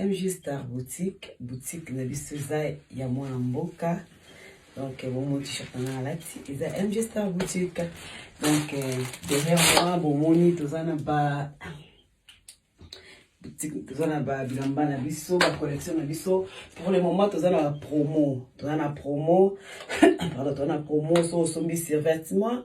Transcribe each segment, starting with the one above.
MJ Star Boutique, boutique na biso eza ya mwana mboka donc euh, bomoni t-shirt na nga alati eza MJ Star Boutique donc euh, derrière moi bomoni toza na ba toza na ba bilamba na biso ba collection na biso pour le moment toza na promo toza na promo pardon toza na promo so osombi survêtement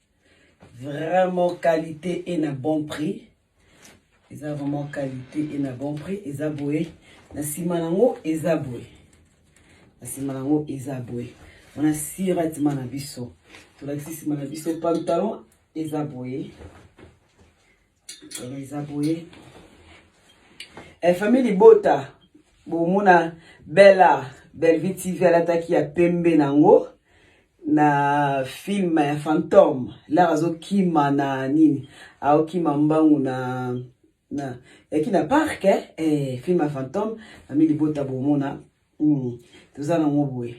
Vraiment qualité et na bon prix. Eza vraiment qualité et na bon prix. Eza boye. Na sima nango eza boye. Na sima nango eza boye. On a sira tima na biso. Tolakisi sima na biso pantalon eza boye. eza boye eh, famille libota bomona bella bellevie tv alataki ya pembe nango na film ya fantome lara azokima na nini aokima mbangu na na yaki na parc eh, eh, film ya fantome famille libota bomona mm, toza nango boye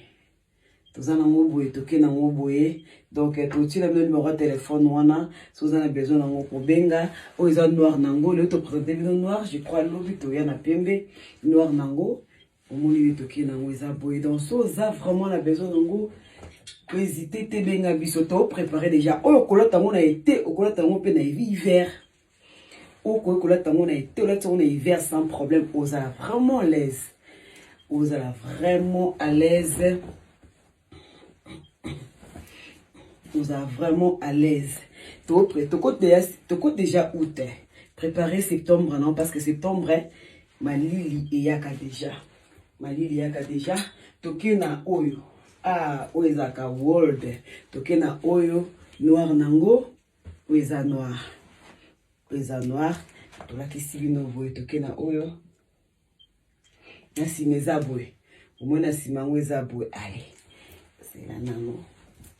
toza nango boye toke nango boye donc eh, totila bino numero ya telefone wana so oza na besoin nango kobenga oyo eza noir nango lelo topresente bino noir je crois lobi toya na pembe noir nango omoni nde toke nango eza boye donc so oza vraiment na besoin nango hésite te benga biso toprépare déjà oyo okolata yango na ete okolata yango mpe na hiver okoki kolata yango na ete olati yango na hiver sans problème ozala vraiment alaise ozala vraiment alaise ozala vraiment alaise toko deja out eh. prépare septembre non parce que septembre eh, malili eyaka deja malili eyaka deja toke na oyo ah oyo ezalaka world toke na oyo noir nango Oyo eza noir. Oyo eza noir. Tolakisi bino boye toke na oyo. Na nsima eza boye. Omoi na nsima yango eza boye. Ale. Zela nango.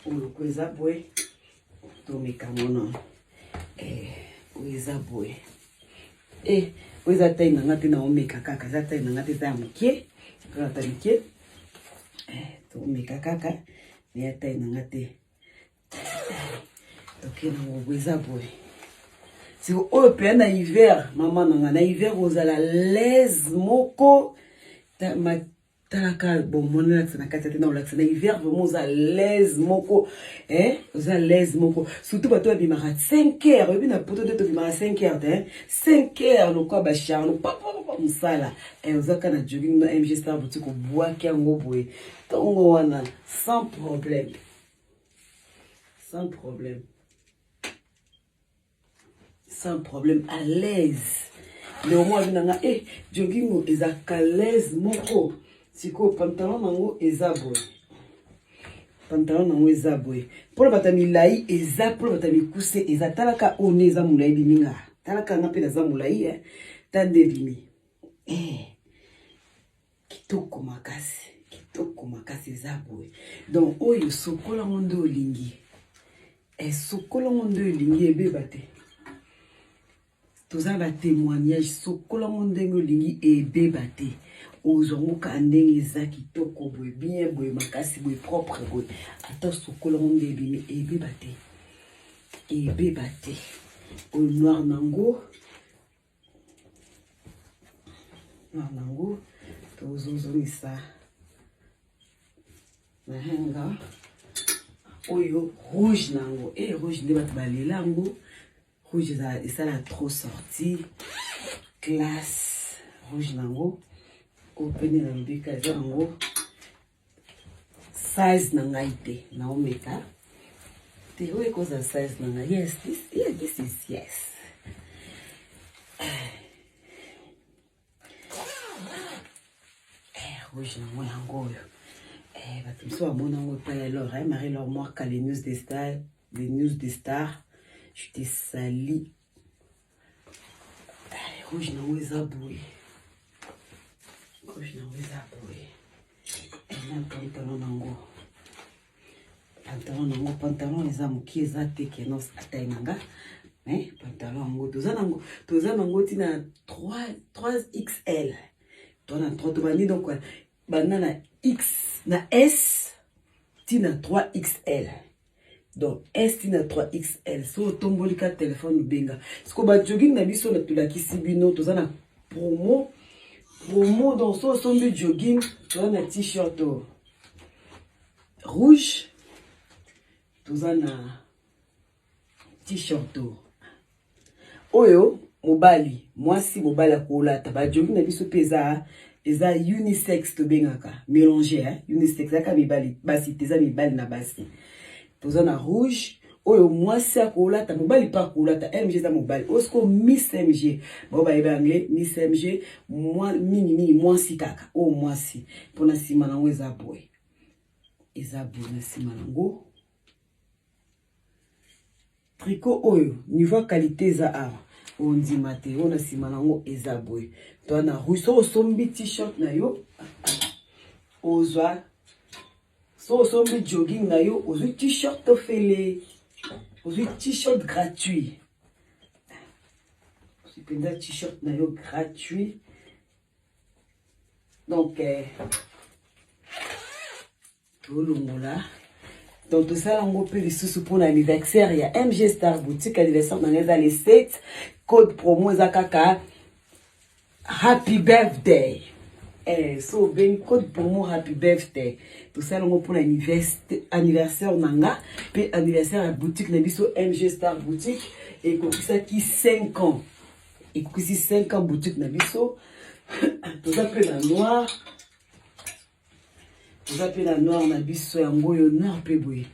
Oyo ko eza boye. Tomeka mono. Eh, oyo eza boye. Eh, oyo eza tai na nga te na omeka kaka. Eza tai na nga te eza ya moke. Eza ta moke. Eh, tomeka kaka. Mais ya tai na nga te. toke na ngobo eza boye siko oyo mpenza na hiver mama na ngai na hiver ozala laise moko talaka bomoni olakisa na kati ya te na olakisa na hiver vraimen oza laise moko eh? oza laise moko surtout bato babimaka 5 heure oyebi na poto nde tobimaka 5 heure te 5 heure lokwa bacharno papapapa mosala eh, oza ka na jogging na mg star boutique obwaki yango boye ntongo wana sans problème sans problème sans problème à l'aise leomo abi na nga e eh, jogingo eza kalaise moko sikoyo pantalon nango eza boye pantalon nango eza boye mpona bata milai eza mpona bata mikuse eza talaka oyo nde eza molai bimi nga talaka nga mpe naza molai e eh. ta nde bimi eh. Kitoko makasi, kitoko makasi eza boye. Donc oyo sokola ngo nde olingi. Eh, sokola ngo nde olingi ebeba te. Toza ba témoignage sokola ngo ndenge olingi ebeba te. Ozwa ngo ka ndenge eza kitoko boye, bien boye, makasi boye, propre boye. Ata sokola ngo nde ebimi ebeba te. Ebeba te. Oyo noir nango na nango tozozongisa nahenga oyo rouge na yango e eh, rouge nde bato balela yango rouge esala trop sorti classe rouge na yango oyo pene na mbika eza yango size na ngai te naomeka te oyo ekozala size na ngai yes this, yeah, this is yes eh, rouge nango yango oyo eh, bato mosusu bamona yango epai ya lor eh, marie lor mwaka les news de star les news de star je te sali rouge nango eza boye rouge nango eza boye na pantalon nango pantalon nango pantalon eza moke eza te kenos atai na nga me pantalon yango toza nango toza nango ntina 3 xl tona 3 tobandi donc banda na x na s ntina 3 xl donc esti na 3xl so otomboli ka telefone obenga siko bajogging na biso na tolakisi bino toza na promo promo donc so osombi jogging toza na t-shirt oh. rouge toza na t-shirt oh. Oyo mobali mwasi mobali akolata ba jogi na biso pe eza eza unisex tobengaka melange hein? unisex ezaka mibali basi te eza mibali na basi toza na rouge oyo mwasi akolata mobali mpe akolata mg eza mobali oyo sikoyo miss mg bao bayebi yango miss mg mingimingi mwasi kaka oyo mwasi mpo na nsima nango eza boye eza boye na nsima nango Tricot oyo niveau ya qualité eza awa ondima te oyo na nsima na yango eza boye to na rue so osombi t-shirt na yo ozwa so osombi jogging na yo ozwi t-shirt ofele ozwi t-shirt gratuit ozwi mpenza t-shirt na yo gratuit donc eh, tolongola donc tosala yango mpe lisusu mpo na anniversaire ya mg star boutique anniversaire na ngai eza le 7 code promo eza kaka happy birthday eh, so obengi code promo happy birthday tosala yango mpo na anniversaire na nga mpe anniversaire ya boutique na biso mg star boutique ekokisaki 5 ans ekokisi 5 ans boutique na biso toza mpe na noire Eza pe na noir na biso yango oyo noir pe boye.